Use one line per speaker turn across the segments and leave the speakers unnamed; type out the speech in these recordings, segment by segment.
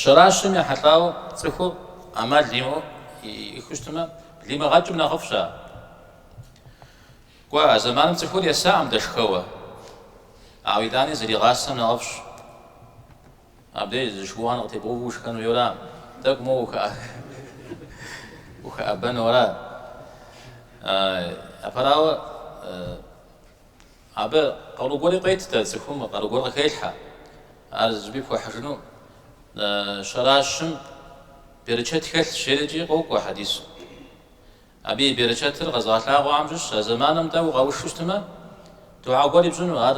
Щэращым ехьэлӏауэ цӏыхур ӏэмал имыӏэу иӏыхыу щытмэ, блимыгъэкӏым нэхъыфӏщ ар. Кӏуэ, а зэманым цӏыхур есакъым дэшхэуэ, ауэ итӏани зэригъасэм нэхъыфӏщ. Абдеж зы шыуан къытебгъэувэу ушхэн хуейуэра? Тӏэкӏу моуэ ухэӏэбэнуэра? Апэрауэ, Абы къару гуэри къет, цӏыхум къару гуэр къыхелъхьэ, ар зыми пхуэхьыжыну. Щэращым берычэт хэлъщ, жери къокӏуэ хьэдисым. Абы и берычэтыр къэзыгъэлъагъуэхэм щыщщ, а зэманым дей укъэушу щытмэ, духьэ гуэри пщӏыну, ар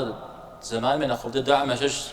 зэманым и нэхъыфӏ дыдэхэм ящыщщ.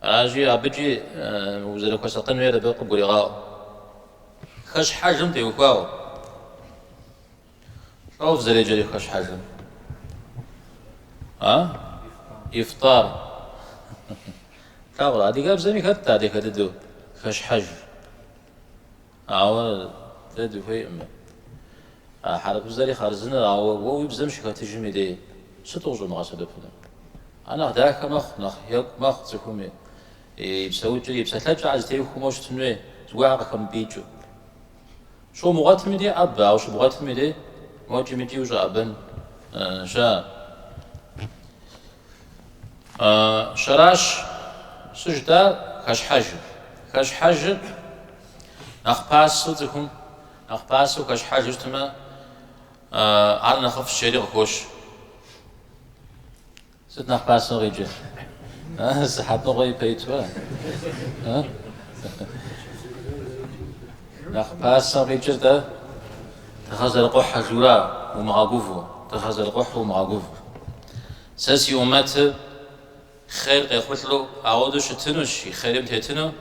Аращи, абыкӏи узэрыхуэсакъын хуейр абы къыбгурегъаӏуэ. Хэщхьэжым теухуауэ. Щӏоф зэреджэри хэщхьэжым. А? Ифтар. Тагъур, адыгэбзэми хэтт ар дахэ дыдэу хэщхьэж. Ауэ дэ дыхуейкъым. А хьэрыпыбзэри хъарзыныр, ауэ уэ уи бзэм щыхэтыжым и дей сыт къыщӏумыгъэсэбэпыну? Ар нэхъ дахэ мэхъу, нэхъ екӏу мэхъу цӏыхум и псэукӏэри, и псэлъэкӏэхэр зытехуэму щытын хуей, зыгуэр къыхэмыпӏиикӏыу. Щумыгъуэтым и дей ӏэбэ, ауэ щыбгъуэтым и дей мокӏи мыкӏи ущӏэӏэбэн щыӏэ? Щэращ сыжытӏар хэщхьэжыр. Хэщхьэжыр Нэхъ пасэу цӏыхум нэхъ пасэу хэщхьэжу щытмэ, ар нэхъыфӏщ жери къыхощ. Сыт нэхъ пасэу къикӏыр? Сыхьэтныкъуэ ипэ итуэ? Нэхъ пасэу къикӏыр дэ тыгъэр зэрыкъухьэжу ара умыгъэгуву, тыгъэр зэрыкъухьу умыгъэгуву. Сэ си умэтыр хъер къехъулӏэу ауэдэу щытынущ, и хъерим тетыну.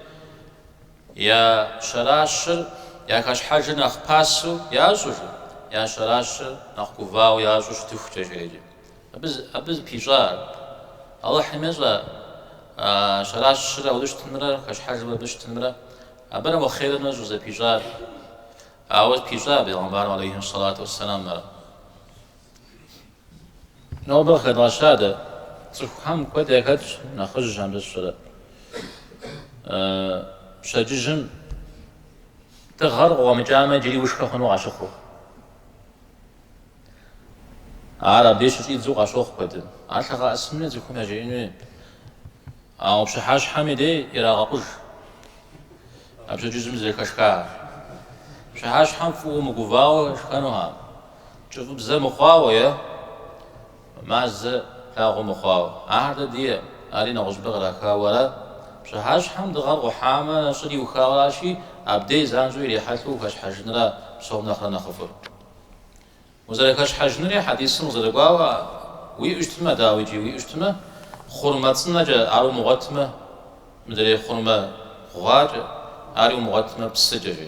Я щэращыр я хэщхьэжыр нэхъ пасэу ящӏыжу, я щэращыр нэхъ гувауэ ящӏу щытыхукӏэ, жеӏэкӏэ. Абы, абы зыпищӏар. Алыхьым ещӏэ а щэращыр ауэдэу щытынымрэ хэщхьэжыр мыбы щытынымрэ. Абырэ мо хъерымрэ щӏызэпищӏар. Ауэ пищӏа Бегъымбарым алейхьи салату уэсселам ар. Нобэ къыхэдгъэща дэ. Цӏыхухэм куэд яхэтщ нэхъыжьхэм сщӏэрэ. Пщэдджыжьым тыгъэр къыкъуэмыкӏамэ, иджыри ушхэ хъуну къащыхъур. Ар абы щыщӏидзу къащохъу куэдым. Ар лъэгъэӏэсыни, цӏыхум яжеӏэн хуей. Ауэ пщыхьэщхьэм и дей ирагъэкъуж. А пщэдджыжьым зэхэшхахэр пщыхьэщхьэм фӏыуэ мыгувауэ шхэнухэкъым, кӏыфӏыбзэ мыхъуауэ е мазэ плъагъуу мыхъуауэ. Ахэр дэ ди, ари нэгъуэщӏыпӏэ кърахауэ аращ. Пщыхьэщхьэм дыгъэр къухьамэ, нэщӏыр иухауэращи, абдей занщӏэу ирихьэлӏэу ухэщхьэжынра псом нэхърэ нэхъыфӏыр. Узэрыхэщхьэжынри хьэдисым къызэрыкӏуауэ уиӏэу щытмэ, дауикӏи уиӏэу щытмэ, хъурмэ цӏынэкӏэ, ар умыгъуэтмэ, мыдрей хъурмэ гъуакӏэ, ари умыгъуэтмэ, псыкӏэ, жи.